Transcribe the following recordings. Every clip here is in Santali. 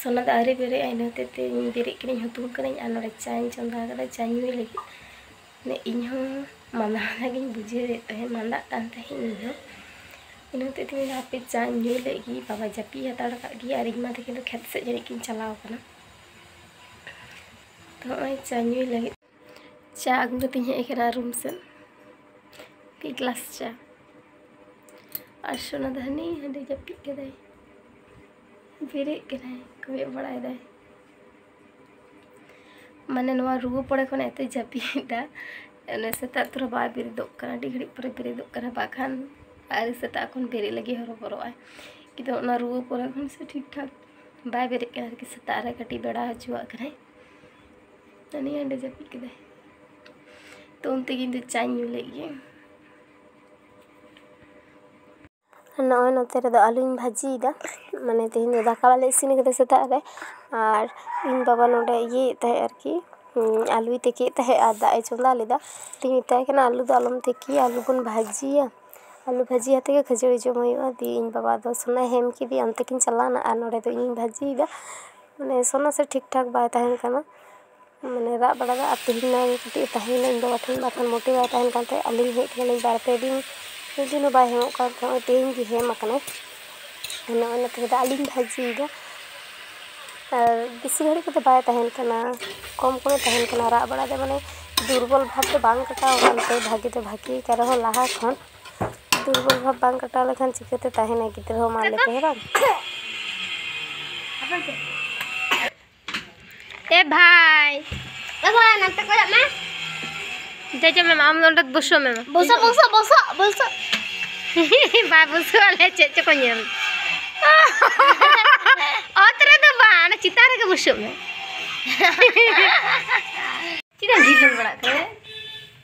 ᱥᱚᱱᱟ ᱫᱚ ᱟᱹᱣᱨᱤ ᱵᱮᱨᱮᱫ ᱟᱭ ᱤᱱᱟᱹ ᱦᱚᱛᱮᱡ ᱛᱮ ᱤᱧ ᱵᱮᱨᱮᱫ ᱠᱟᱹᱱᱟᱹᱧ ᱦᱩᱛᱩᱢ ᱠᱟᱹᱱᱟᱹᱧ ᱟᱨ ᱱᱚᱰᱮ ᱪᱟᱧ ᱪᱚᱸᱫᱟ ᱟᱠᱟᱫᱟ ᱪᱟ ᱧᱩᱭ ᱞᱟᱹᱜᱤᱫ ᱢᱟᱱᱮ ᱤᱧ ᱦᱚᱸ ᱢᱟᱸᱫᱟ ᱢᱟᱸᱫᱟ ᱜᱤᱧ ᱵᱩᱡᱷᱟᱹᱣᱮᱫ ᱛᱟᱦᱮᱸᱫ ᱢᱟᱸᱫᱟᱜ ᱠᱟᱱ ᱛᱟᱦᱮᱸᱫ ᱤᱧ ᱦᱚᱸ ᱤᱱᱟᱹ ᱦᱚᱛᱮᱡ ᱛᱮ ᱢᱮᱱᱫᱟ ᱦᱟᱯᱮ ᱪᱟᱧ ᱧᱩ ᱞᱮᱫ ᱜᱮ ᱵᱟᱵᱟ ᱡᱟᱹᱯᱤᱫ ᱦᱟᱛᱟᱲ ᱠᱟᱜ ᱜᱮ ᱟᱨ ᱤᱧ ᱢᱟ ᱛᱤᱠᱤᱱ ᱫᱚ ᱠᱷᱮᱛ ᱥᱮᱫ ᱡᱟᱹᱱᱤᱡ ᱠᱤᱱ ᱪᱟᱞᱟᱣ ᱠᱟᱱᱟ ᱛᱚ ᱱᱚᱜᱼᱚᱭ ᱪᱟ ᱧᱩᱭ ᱞᱟᱹᱜᱤᱫ ᱪᱟ ᱟᱹᱜᱩ ᱠᱟᱛᱮᱧ ᱦᱮᱡ ᱟᱠᱟᱱᱟ ᱨᱩᱢ ᱥᱮᱫ ᱢᱤᱫ ᱜᱞᱟᱥ ᱪᱟ ᱟᱨ ᱥᱳᱱᱟ ᱫᱚ ᱦᱟᱹᱱᱤ ᱦᱟᱸᱰᱮ ᱡᱟᱹᱯᱤᱫ ᱠᱮᱫᱟᱭ ᱵᱮᱨᱮᱫ ᱠᱟᱱᱟᱭ ᱠᱚᱭᱚᱜ ᱵᱟᱲᱟᱭᱮᱫᱟᱭ ᱢᱟᱱᱮ ᱱᱚᱣᱟ ᱨᱩᱣᱟᱹ ᱯᱚᱨᱮ ᱠᱷᱚᱱ ᱮᱛᱮ ᱡᱟᱹᱯᱤᱫᱟ ᱚᱱᱮ ᱥᱮᱛᱟᱜ ᱛᱚᱨᱟ ᱵᱟᱭ ᱵᱮᱨᱮᱫᱚᱜ ᱠᱟᱱᱟ ᱟᱹᱰᱤ ᱜᱷᱟᱹᱲᱤᱡ ᱯᱚᱨᱮ ᱵᱮᱨᱮᱫᱚᱜ ᱠᱟᱱᱟ ᱵᱟᱠᱷᱟᱱ ᱟᱨ ᱥᱮᱛᱟᱜ ᱠᱷᱚᱱ ᱵᱮᱨᱮᱫ ᱞᱟᱹᱜᱤᱫ ᱦᱚᱨᱚᱵᱚᱨᱚᱜᱼᱟᱭ ᱠᱤᱱᱛᱩ ᱚᱱᱟ ᱨᱩᱣᱟᱹ ᱯᱚᱨᱮ ᱠᱷᱚᱱ ᱥᱮ ᱴᱷᱤᱠ ᱴᱷᱟᱠ ᱵᱟᱭ ᱵᱮᱨᱮᱫ ᱠᱟᱱᱟ ᱟᱨᱠᱤ ᱥᱮᱛᱟᱜ ᱨᱮ ᱠᱟᱹᱴᱤᱡ ᱵᱮᱲᱟ ᱦᱚᱪᱚᱣᱟᱜ ᱠᱟᱱᱟᱭ ᱱᱟᱹᱱᱤ ᱦᱟᱸᱰᱮ ᱡᱟᱹᱯᱤᱫ ᱠᱮᱫᱟᱭ ᱛᱚ ᱩᱱ ᱛᱮᱜᱮ ᱤᱧ ᱫᱚ ᱪᱟᱧ ᱧᱩ ᱞᱮᱫ ᱜᱮ ᱱᱚᱜᱼᱚᱭ ᱱᱚᱛᱮ ᱨᱮᱫᱚ ᱟᱹᱞᱩᱧ ᱵᱷᱟᱹᱡᱤᱭᱮᱫᱟ ᱢᱟᱱᱮ ᱛᱮᱦᱮᱧ ᱫᱚ ᱫᱟᱠᱟ ᱵᱟᱞᱮ ᱤᱥᱤᱱ ᱠᱟᱫᱟ ᱥᱮᱛᱟᱜ ᱨᱮ ᱟᱨ ᱤᱧ ᱵᱟᱵᱟ ᱱᱚᱰᱮ ᱤᱭᱟᱹᱭᱮᱫ ᱛᱟᱦᱮᱸᱜ ᱟᱨᱠᱤ ᱟᱹᱞᱩᱭ ᱛᱤᱠᱤᱭᱮᱫ ᱛᱟᱦᱮᱸᱜ ᱟᱨ ᱫᱟᱜ ᱮ ᱪᱚᱸᱫᱟ ᱞᱮᱫᱟ ᱛᱚᱧ ᱢᱮᱛᱟᱭ ᱠᱟᱱᱟ ᱟᱹᱞᱩ ᱫᱚ ᱟᱞᱚᱢ ᱛᱤᱠᱤᱭᱟ ᱟᱹᱞᱩ ᱵᱚᱱ ᱵᱷᱟᱹᱡᱤᱭᱟ ᱟᱹᱞᱩ ᱵᱷᱟᱹᱡᱤ ᱟᱛᱮ ᱜᱮ ᱠᱷᱟᱹᱡᱟᱹᱲᱤ ᱡᱚᱢ ᱦᱩᱭᱩᱜᱼᱟ ᱫᱤᱭᱮ ᱤᱧ ᱵᱟᱵᱟ ᱫᱚ ᱥᱚᱱᱟᱭ ᱦᱮᱢ ᱠᱮᱫᱮᱭᱟ ᱚᱱᱛᱮ ᱠᱤᱱ ᱪᱟᱞᱟᱣᱱᱟ ᱟᱨ ᱱᱚᱰᱮ ᱫᱚ ᱤᱧᱤᱧ ᱵᱷᱟᱹᱡᱤᱭᱮᱫᱟ ᱢᱟᱱᱮ ᱥᱚᱱᱟ ᱥᱮ ᱴᱷᱤᱠ ᱴᱷᱟᱠ ᱵᱟᱭ ᱛᱟᱦᱮᱱ ᱠᱟᱱᱟ ᱢᱟᱱᱮ ᱨᱟᱜ ᱵᱟᱲᱟᱭᱮᱫᱟᱭ ᱟᱨ ᱛᱮᱦᱮᱧ ᱢᱟ ᱠᱟᱹᱴᱤᱡ ᱮ ᱛᱟᱦᱮᱸᱭᱮᱱᱟ ᱤᱧ ᱵᱟᱵᱟ ᱴᱷᱮᱱ ᱵᱟᱠᱷᱟᱱ ᱢᱳᱴᱮ ᱵᱟᱭ ᱛᱟᱦᱮᱱ ᱠᱟᱱ ᱛᱟᱦᱮᱸᱫ ᱟᱹᱞᱤᱧ ᱦᱮᱡ ᱠᱟᱱᱟᱞᱤᱧ ᱵᱟᱨ ᱯᱮ ᱫᱤᱱ ᱢᱤᱫ ᱫᱤᱱ ᱦᱚᱸ ᱵᱟᱭ ᱦᱮᱡᱚᱜ ᱠᱟᱱ ᱛᱟᱦᱮᱸᱫ ᱱᱚᱜᱼᱚᱭ ᱛᱮᱦᱮᱧ ᱜᱮ ᱦᱮᱡ ᱠᱟᱱᱟᱭ ᱚᱱᱮ ᱚᱱᱟ ᱛᱮᱜᱮ ᱫᱟᱜ ᱞᱤᱧ ᱵᱷᱟᱹᱡᱤᱭᱮᱫᱟ ᱟᱨ ᱵᱮᱥᱤ ᱜᱷᱟᱹᱲᱤᱡ ᱠᱚᱫᱚ ᱵᱟᱭ ᱛᱟᱦᱮᱱ ᱠᱟᱱᱟ ᱠᱚᱢ ᱠᱚᱢᱮ ᱛᱟᱦᱮᱱ ᱠᱟᱱᱟ ᱨᱟᱜ ᱵᱟᱲᱟᱭᱮᱫᱟᱭ ᱢᱟᱱᱮ ᱫᱩᱨᱵᱚᱞ ᱵᱷᱟᱵᱽ ᱫᱚ ᱵᱟᱝ ᱠᱟᱴᱟᱣ ᱟᱠᱟᱱ ᱛᱟᱭᱟ ᱵᱷᱟᱹᱜᱤ ᱫᱚ ᱵᱷᱟᱹᱜᱤ ᱟᱠᱟᱱ ᱨᱮᱦᱚᱸ ᱞᱟᱦᱟ ᱠᱷᱚᱱ ᱫᱩᱨᱵᱚᱞ ᱵᱷᱟᱵᱽ ᱵᱟᱝ ᱠᱟᱴᱟᱣ ᱞᱮᱠᱷᱟᱱ ᱪᱤᱠᱟᱹᱛᱮ ᱛᱟᱦᱮᱱᱟᱭ ᱜᱤᱫᱽᱨᱟᱹ ᱦᱚᱸ ᱢᱟ ᱞᱟᱹᱭ ᱯᱮ ᱦᱮᱸ ᱵᱟᱝ ᱮ ᱵᱷᱟᱭ ᱮᱜᱚᱭ ᱱᱟᱱᱛᱮ ᱠᱚᱭᱚᱜ ᱢᱮ ᱡᱟ ᱡᱟ ᱢᱮᱢᱟ ᱟᱢ ᱚᱸᱰᱮ ᱵᱚᱥᱚ ᱢᱮᱢᱟ ᱵᱚᱥᱚ ᱵᱚᱥᱚ ᱵᱚᱥᱚ ᱵᱚᱥᱚ ᱵᱟᱭ ᱵᱚᱥᱚ ᱟᱞᱮ ᱪᱮᱫ ᱪᱚᱠᱚ ᱧᱮᱞ ᱚᱛ ᱨᱮᱫᱚ ᱵᱟᱝ ᱚᱱᱟ ᱪᱮᱛᱟᱱ ᱨᱮᱜᱮ ᱵᱚᱥᱚᱜ ᱢᱮ ᱪᱮᱫᱟᱜ ᱰᱷᱤᱞᱟᱹᱣ ᱵᱟᱲᱟᱜ ᱠᱟᱱᱟ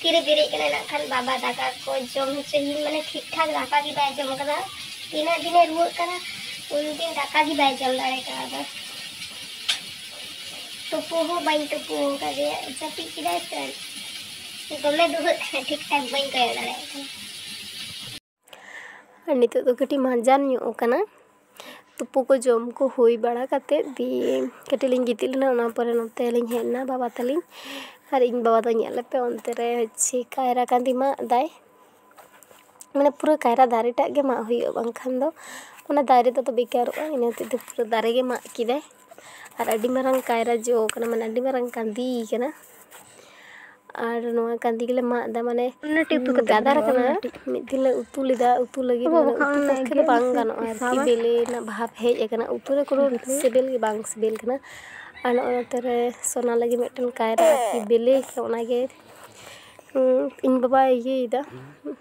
ᱛᱤᱨᱮ ᱵᱮᱨᱮᱫ ᱠᱟᱱᱟᱭ ᱱᱟᱜ ᱠᱷᱟᱱ ᱵᱟᱵᱟ ᱫᱟᱠᱟ ᱠᱚ ᱡᱚᱢ ᱦᱚᱪᱚᱭᱮᱧ ᱢᱟᱱᱮ ᱴᱷᱤᱠ ᱴᱷᱟᱠ ᱫᱟᱠᱟ ᱜᱮ ᱵᱟᱭ ᱡᱚᱢ ᱠᱟᱫᱟ ᱛᱤᱱᱟᱹᱜ ᱫᱤᱱᱮ ᱨᱩᱣᱟᱹᱜ ᱠᱟᱱᱟ ᱩᱱ ᱫᱤᱱ ᱫᱟᱠᱟ ᱜᱮ ᱵᱟᱭ ᱡᱚᱢ ᱫᱟᱲᱮ ᱠᱟᱣᱫᱟ ᱛᱩᱯᱩ ᱦᱚᱸ ᱵᱟᱹᱧ ᱛᱩᱯᱩ ᱠᱟᱫᱮᱭᱟ ᱡᱟᱹᱯᱤᱫ ᱠᱮᱫᱟᱭ ᱥᱮ ᱫᱚᱢᱮ ᱫᱩᱦᱟᱹᱜ ᱠᱟᱱᱟ ᱴᱷᱤᱠ ᱴᱷᱟᱠ ᱵᱟᱹᱧ ᱠᱚᱭᱚᱜ ᱫᱟᱲᱮᱭᱟᱜ ᱠᱟᱱᱟ ᱟᱨ ᱱᱤᱛᱚᱜ ᱫᱚ ᱠᱟᱹᱴᱤᱡ ᱢᱟᱡᱟᱱ ᱧᱚᱜ ᱟᱠᱟᱱᱟ ᱛᱩᱯᱩ ᱠᱚ ᱡᱚᱢ ᱠᱚ ᱦᱩᱭ ᱵᱟᱲᱟ ᱠᱟᱛᱮ ᱫᱤᱭᱮ ᱠᱟᱹᱴᱤᱡ ᱞᱤᱧ ᱜᱤᱛᱤᱡ ᱞᱮᱱᱟ ᱚᱱᱟ ᱯᱚᱨᱮ ᱱᱚᱛᱮ ᱞᱤᱧ ᱦᱮᱡ ᱮᱱᱟ ᱵᱟᱵᱟ ᱛᱟᱹᱞᱤᱧ ᱟᱨ ᱤᱧ ᱵᱟᱵᱟ ᱫᱚ ᱧᱮᱞ ᱞᱮᱯᱮ ᱚᱱᱛᱮ ᱨᱮ ᱦᱚᱪᱪᱷᱮ ᱠᱟᱭᱨᱟ ᱠᱟᱺᱫᱤ ᱢᱟᱜ ᱮᱫᱟᱭ ᱢᱟᱱᱮ ᱯᱩᱨᱟᱹ ᱠᱟᱭᱨᱟ ᱫᱟᱨᱮ ᱴᱟᱜ ᱜᱮ ᱢᱟᱜ ᱦᱩᱭᱩᱜᱼᱟ ᱵᱟᱝᱠᱷᱟᱱ ᱫᱚ ᱚᱱᱟ ᱫᱟᱨᱮ ᱫᱚ ᱵᱮᱠᱟᱨᱚᱜᱼᱟ ᱤᱱᱟᱹ ᱦᱚᱛᱮᱡ ᱛᱮ ᱯᱩᱨᱟᱹ ᱫᱟᱨᱮ ᱜᱮ ᱢᱟᱜ ᱠᱮᱫᱟᱭ ᱟᱨ ᱟᱹᱰᱤ ᱢᱟᱨᱟᱝ ᱠᱟᱭᱨᱟ ᱡᱚ ᱠᱟᱱᱟ ᱢᱟᱱᱮ ᱟᱹᱰᱤ ᱢᱟᱨᱟᱝ ᱠᱟᱺᱫᱷᱤ ᱠᱟᱱᱟ ᱟᱨ ᱱᱚᱣᱟ ᱠᱟᱺᱫᱷᱤ ᱜᱮᱞᱮ ᱢᱟᱜ ᱮᱫᱟ ᱢᱟᱱᱮ ᱜᱟᱫᱟᱨ ᱠᱟᱱᱟ ᱢᱤᱫ ᱫᱤᱱ ᱞᱮ ᱩᱛᱩ ᱞᱮᱫᱟ ᱩᱛᱩ ᱞᱟᱹᱜᱤᱫ ᱢᱟᱱᱮ ᱩᱛᱩ ᱯᱚᱠᱠᱷᱮ ᱫᱚ ᱵᱟᱝ ᱜᱟᱱᱚᱜᱼᱟ ᱟᱨᱠᱤ ᱵᱮᱞᱮ ᱨᱮᱱᱟᱜ ᱵᱷᱟᱵᱽ ᱦᱮᱡ ᱠᱟᱱᱟ ᱩᱛᱩ ᱨᱮ ᱠᱳᱱᱳ ᱥᱤᱵᱤᱞ ᱜᱮ ᱵᱟᱝ ᱥᱤᱵᱤᱞ ᱠᱟᱱᱟ ᱟᱨ ᱱᱚᱜᱼᱚ ᱱᱚᱛᱮ ᱨᱮ ᱥᱳᱱᱟ ᱞᱟᱹᱜᱤᱫ ᱢᱤᱫᱴᱮᱱ ᱠᱟᱭᱨᱟ ᱟᱨᱠᱤ ᱵᱮᱞᱮ ᱠᱟᱱᱟ ᱚᱱᱟᱜᱮ ᱤᱧ ᱵᱟᱵᱟᱭ ᱤᱭᱟᱹᱭᱮᱫᱟ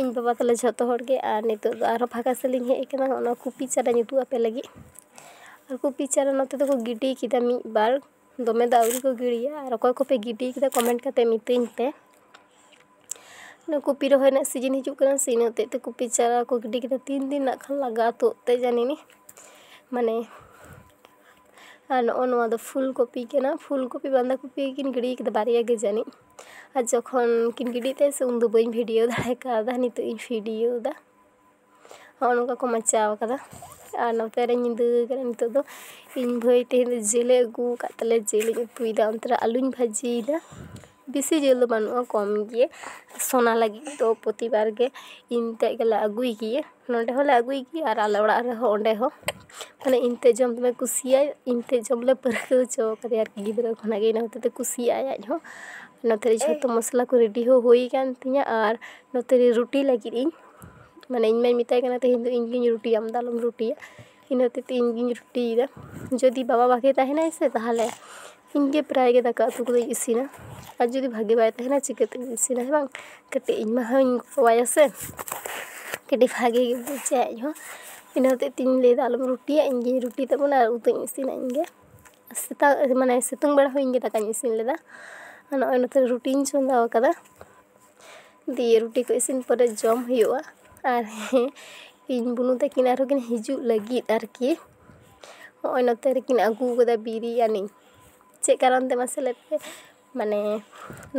ᱤᱧ ᱵᱟᱵᱟ ᱛᱟᱞᱮ ᱡᱷᱚᱛᱚ ᱦᱚᱲ ᱜᱮ ᱟᱨ ᱱᱤᱛᱚᱜ ᱫᱚ ᱟᱨᱦᱚᱸ ᱯᱷᱟᱸᱠᱟ ᱥᱮᱫ ᱞᱤᱧ ᱦᱮᱡ ᱠᱟᱱᱟ ᱚᱱᱟ ᱠᱚᱯᱤ ᱪᱟᱨᱟᱧ ᱩᱫᱩᱜ ᱟᱯᱮ ᱞᱟᱹᱜᱤᱫ ᱟᱨ ᱠᱚᱯᱤ ᱪᱟᱨᱟ ᱱᱚᱛᱮ ᱫᱚᱠᱚ ᱜᱤᱰᱤ ᱠᱮᱫᱟ ᱢᱤᱫ ᱵᱟᱨ ᱫᱚᱢᱮ ᱫᱚ ᱟᱹᱣᱨᱤ ᱠᱚ ᱜᱤᱰᱤᱭᱟ ᱟᱨ ᱚᱠᱚᱭ ᱠᱚᱯᱮ ᱜᱤᱰᱤ ᱠᱟᱫᱟ ᱠᱚᱢᱮᱱᱴ ᱠᱟᱛᱮ ᱢᱤᱛᱟᱹᱧ ᱯᱮ ᱚᱱᱟ ᱠᱚᱯᱤ ᱨᱚᱦᱚᱭ ᱨᱮᱱᱟᱜ ᱥᱤᱡᱤᱱ ᱦᱤᱡᱩᱜ ᱠᱟᱱᱟ ᱥᱮ ᱤᱱᱟᱹ ᱦᱚᱛᱮᱡ ᱛᱮ ᱠᱚᱯᱤ ᱪᱟᱨᱟ ᱠᱚ ᱜᱤᱰᱤ ᱠᱮᱫᱟ ᱛᱤᱱ ᱫᱤᱱ ᱱᱟᱜ ᱠᱷᱟᱱ ᱞᱟᱜᱟᱜᱼᱟ ᱛᱩᱫ ᱛᱮ ᱡᱟᱹᱱᱤ ᱱᱤ ᱢᱟᱱᱮ ᱟᱨ ᱱᱚᱜᱼᱚᱭ ᱱᱚᱣᱟ ᱫᱚ ᱯᱷᱩᱞ ᱠᱚᱯᱤ ᱠᱟᱱᱟ ᱯᱷᱩᱞ ᱠᱚᱯᱤ ᱵᱟᱸᱫᱷᱟ ᱠᱚᱯᱤ ᱠᱤᱱ ᱜᱤᱰᱤ ᱠᱟᱫᱟ ᱵᱟᱨᱭᱟ ᱜᱮ ᱡᱟᱹᱱᱤᱡ ᱟᱨ ᱡᱚᱠᱷᱚᱱ ᱠᱤᱱ ᱜᱤᱰᱤᱭᱮᱫ ᱛᱟᱦᱮᱸᱜ ᱥᱮ ᱩᱱᱫᱚ ᱵᱟᱹᱧ ᱵᱷᱤᱰᱤᱭᱳ ᱫᱟᱲᱮ ᱠᱟᱣᱫᱟ ᱱᱤᱛᱚᱜ ᱤᱧ ᱵᱷᱤᱰᱤᱭᱳᱭᱮᱫᱟ ᱦᱚᱸᱜᱼᱚ ᱱᱚᱝᱠᱟ ᱠᱚ ᱢᱟᱪᱟᱣ ᱠᱟᱫᱟ ᱟᱨ ᱱᱚᱛᱮ ᱨᱮ ᱧᱤᱫᱟᱹ ᱠᱟᱱᱟ ᱱᱤᱛᱚᱜ ᱫᱚ ᱤᱧ ᱵᱷᱟᱹᱭ ᱛᱮᱦᱮᱧ ᱫᱚ ᱡᱤᱞᱮ ᱟᱹᱜᱩ ᱠᱟᱜ ᱛᱟᱞᱮ ᱡᱤᱞᱤᱧ ᱩᱛᱩᱭᱮᱫᱟ ᱚᱱᱛᱮ ᱨᱮ ᱟᱹᱞᱩᱧ ᱵᱷᱟᱹᱡᱤᱭᱮᱫᱟ ᱵᱮᱥᱤ ᱡᱤᱞ ᱫᱚ ᱵᱟᱹᱱᱩᱜᱼᱟ ᱠᱚᱢ ᱜᱮᱭᱟ ᱥᱚᱱᱟ ᱞᱟᱹᱜᱤᱫ ᱫᱚ ᱯᱨᱚᱛᱤᱵᱟᱨ ᱜᱮ ᱤᱧ ᱛᱮᱜ ᱜᱮᱞᱮ ᱟᱹᱜᱩᱭ ᱜᱮᱭᱟ ᱱᱚᱰᱮ ᱦᱚᱸᱞᱮ ᱟᱹᱜᱩᱭ ᱜᱮᱭᱟ ᱟᱨ ᱟᱞᱮ ᱚᱲᱟᱜ ᱨᱮᱦᱚᱸ ᱚᱸᱰᱮ ᱦᱚᱸ ᱢᱟᱱᱮ ᱤᱧ ᱛᱮᱫ ᱡᱚᱢ ᱫᱚᱢᱮ ᱠᱩᱥᱤᱭᱟᱭ ᱤᱧ ᱛᱮᱫ ᱡᱚᱢ ᱞᱮ ᱯᱟᱹᱨᱠᱟᱹᱣ ᱦᱚᱪᱚ ᱠᱟᱫᱮᱭᱟ ᱟᱨᱠᱤ ᱜᱤᱫᱽᱨᱟᱹ ᱠᱷᱚᱱᱟᱜ ᱜᱮ ᱤᱱᱟᱹ ᱦᱚᱛᱮᱡ ᱛᱮ ᱠᱩᱥᱤᱭᱟᱜ ᱟᱭ ᱟᱡ ᱦᱚᱸ ᱱᱚᱛᱮ ᱨᱮ ᱡᱷᱚᱛᱚ ᱢᱚᱥᱞᱟ ᱠᱚ ᱨᱮᱰᱤ ᱦᱚᱸ ᱦᱩᱭ ᱠᱟᱱ ᱛᱤᱧᱟᱹ ᱟᱨ ᱱᱚᱛᱮ ᱨᱮ ᱨᱩᱴᱤ ᱞᱟᱹᱜᱤᱫ ᱤᱧ ᱢᱟᱱᱮ ᱤᱧ ᱢᱟᱧ ᱢᱮᱛᱟᱭ ᱠᱟᱱᱟ ᱛᱮᱦᱮᱧ ᱫᱚ ᱤᱧ ᱜᱮᱧ ᱨᱩᱴᱤᱭᱟ ᱟᱢ ᱫᱚ ᱟᱞᱚᱢ ᱨᱩᱴᱤᱭᱟ ᱤᱱᱟᱹ ᱦᱚᱛᱮᱡ ᱛᱮ ᱤᱧ ᱜᱤᱧ ᱨᱩᱴᱤᱭᱮᱫᱟ ᱡᱩᱫᱤ ᱵᱟᱵᱟ ᱵᱷᱟᱜᱮ ᱛᱟᱦᱮᱱᱟᱭ ᱥᱮ ᱛᱟᱦᱚᱞᱮ ᱤᱧ ᱜᱮ ᱯᱨᱟᱭ ᱜᱮ ᱫᱟᱠᱟ ᱩᱛᱩ ᱠᱚᱫᱚᱧ ᱤᱥᱤᱱᱟ ᱟᱨ ᱡᱩᱫᱤ ᱵᱷᱟᱜᱮ ᱵᱟᱭ ᱛᱟᱦᱮᱱᱟ ᱪᱤᱠᱟᱹᱛᱮ ᱤᱥᱤᱱᱟ ᱦᱮᱸ ᱵᱟᱝ ᱠᱟᱹᱴᱤᱡ ᱤᱧ ᱢᱟ ᱦᱚᱧ ᱜᱚᱲᱚᱣᱟᱭᱟ ᱥᱮ ᱠᱟᱹᱴᱤᱡ ᱵᱷᱟᱜᱮ ᱜᱮ ᱵᱩᱡᱟᱭ ᱟᱡ ᱦᱚᱸ ᱤᱱᱟᱹ ᱦᱚᱛᱮᱡ ᱛᱮᱧ ᱞᱟᱹᱭᱫᱟ ᱟᱞᱚᱢ ᱨᱩᱴᱤᱭᱟ ᱤᱧ ᱜᱮᱧ ᱨᱩᱴᱤ ᱛᱟᱵᱚᱱᱟ ᱟᱨ ᱩᱛᱩᱧ ᱤᱥᱤᱱᱟ ᱤᱧ ᱜᱮ ᱥᱮᱛᱟᱜ ᱢᱟᱱᱮ ᱥᱤᱛᱩᱝ ᱵᱮᱲᱟ ᱦᱚᱸ ᱤᱧ ᱜᱮ ᱫᱟᱠᱟᱧ ᱤᱥᱤᱱ ᱞᱮᱫᱟ ᱟᱨ ᱱᱚᱜᱼᱚᱭ ᱱᱤᱛᱚᱜ ᱨᱩᱴᱤᱧ ᱪᱚᱸᱫᱟᱣ ᱠᱟᱫᱟ ᱫᱤᱭᱮ ᱨᱩᱴᱤ ᱠᱚ ᱤᱥᱤᱱ ᱯᱚᱨᱮ ᱡᱚᱢ ᱦᱩᱭᱩᱜᱼᱟ ᱟᱨ ᱦᱮᱸ ᱤᱧ ᱵᱩᱱᱩ ᱛᱟᱹᱠᱤᱱ ᱟᱨᱦᱚᱸ ᱠᱤᱱ ᱦᱤᱡᱩᱜ ᱞᱟᱹᱜᱤᱫ ᱟᱨᱠᱤ ᱦᱚᱜᱼᱚᱭ ᱱᱚᱛᱮ ᱨᱮᱠᱤᱱ ᱟᱹᱜᱩ ᱠᱟᱫᱟ ᱵᱤᱨᱭᱟᱱᱤ ᱪᱮᱫ ᱠᱟᱨᱚᱱ ᱛᱮ ᱢᱟᱥᱮ ᱞᱟᱹᱭ ᱯᱮ ᱢᱟᱱᱮ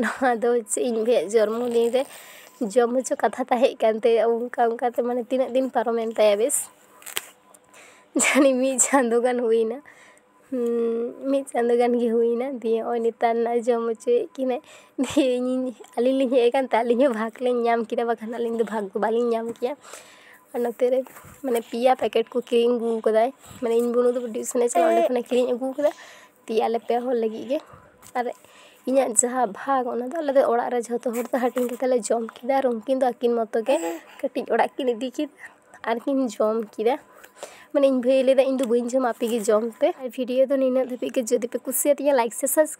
ᱱᱚᱣᱟ ᱫᱚ ᱪᱮᱫ ᱤᱧ ᱞᱟᱹᱭᱟ ᱡᱚᱱᱢᱚ ᱫᱤᱱ ᱨᱮ ᱡᱚᱢ ᱦᱚᱪᱚ ᱠᱟᱛᱷᱟ ᱛᱟᱦᱮᱸ ᱠᱟᱱ ᱛᱟᱭᱟ ᱚᱱᱠᱟ ᱚᱱᱠᱟ ᱛᱮ ᱢᱟᱱᱮ ᱛᱤᱱᱟᱹᱜ ᱫᱤᱱ ᱯᱟᱨᱚᱢᱮᱱ ᱛᱟᱭᱟ ᱵᱮᱥ ᱡᱟᱹᱱᱤᱡ ᱢᱤᱫ ᱪᱟᱸᱫᱚ ᱜᱟᱱ ᱦᱩᱭᱱᱟ ᱢᱤᱫ ᱪᱟᱸᱫᱚ ᱜᱟᱱ ᱜᱮ ᱦᱩᱭᱱᱟ ᱫᱤᱭᱮ ᱱᱚᱜᱼᱚᱭ ᱱᱮᱛᱟᱨ ᱱᱟᱜ ᱡᱚᱢ ᱦᱚᱪᱚᱭᱮᱜ ᱠᱤᱱᱟᱭ ᱫᱤᱭᱮ ᱤᱧᱤᱧ ᱟᱹᱞᱤᱧ ᱞᱤᱧ ᱦᱮᱡ ᱠᱟᱱᱛᱮ ᱟᱹᱞᱤᱧ ᱦᱚᱸ ᱵᱷᱟᱜᱽ ᱞᱤᱧ ᱧᱟᱢ ᱠᱮᱫᱟ ᱵᱟᱠᱷᱟᱱ ᱟᱹᱞᱤᱧ ᱫᱚ ᱵᱷᱟᱜᱽ ᱫᱚ ᱵᱟᱹᱞᱤᱧ ᱧᱟᱢ ᱠᱮᱭᱟ ᱟᱨ ᱱᱚᱛᱮ ᱨᱮ ᱢᱟᱱᱮ ᱯᱮᱭᱟ ᱯᱮᱠᱮᱴ ᱠᱚ ᱠᱤᱨᱤᱧ ᱟᱹᱜᱩ ᱠᱟᱫᱟᱭ ᱢᱟᱱᱮ ᱤᱧ ᱵᱩᱱᱩ ᱫᱚ ᱴᱤᱭᱩᱥᱚᱱᱮ ᱪᱟᱞᱟᱜᱼᱟ ᱚᱸᱰᱮ ᱠᱷᱚᱱᱮ ᱠᱤᱨᱤᱧ ᱟᱹᱜᱩ ᱠᱟᱫᱟ ᱫᱤᱭᱮ ᱟᱞᱮ ᱯᱮ ᱦᱚᱲ ᱞᱟᱹᱜᱤᱫ ᱜᱮ ᱟᱨ ᱤᱧᱟᱹᱜ ᱡᱟᱦᱟᱸ ᱵᱷᱟᱜᱽ ᱚᱱᱟ ᱫᱚ ᱟᱞᱮ ᱫᱚ ᱚᱲᱟᱜ ᱨᱮ ᱡᱷᱚᱛᱚ ᱦᱚᱲ ᱛᱮ ᱦᱟᱹᱴᱤᱧ ᱠᱟᱛᱮ ᱞᱮ ᱡᱚᱢ ᱠᱮᱫᱟ ᱟᱨ ᱩᱱᱠᱤᱱ ᱫᱚ ᱟᱹᱠᱤᱱ ᱢᱚᱛᱚ ᱜᱮ ᱠᱟᱹᱴᱤᱡ ᱚᱲᱟᱜ ᱠᱤᱱ ᱤᱫᱤ ᱠᱮᱫᱟ ᱟᱨᱠᱤᱱ ᱡᱚᱢ ᱠᱮᱫᱟ ᱢᱟᱱᱮ ᱤᱧ ᱵᱷᱟᱹᱭᱮ ᱞᱟᱹᱭᱫᱟ ᱤᱧ ᱫᱚ ᱵᱟᱹᱧ ᱡᱚᱢᱟ ᱟᱯᱮ ᱜᱮ ᱡᱚᱢ ᱯᱮ ᱟᱨ ᱵᱷᱤᱰᱤᱭᱳ ᱫᱚ ᱱᱤᱱᱟᱹᱜ ᱫᱷᱟᱹᱵᱤᱡ ᱜᱮ ᱡᱩᱫᱤ ᱯᱮ ᱠᱩᱥᱤᱭᱟᱛᱤᱧᱟ ᱞᱟᱭᱤᱠ ᱥᱮ ᱥᱟᱵᱥᱠᱨᱟᱭᱤᱵᱽ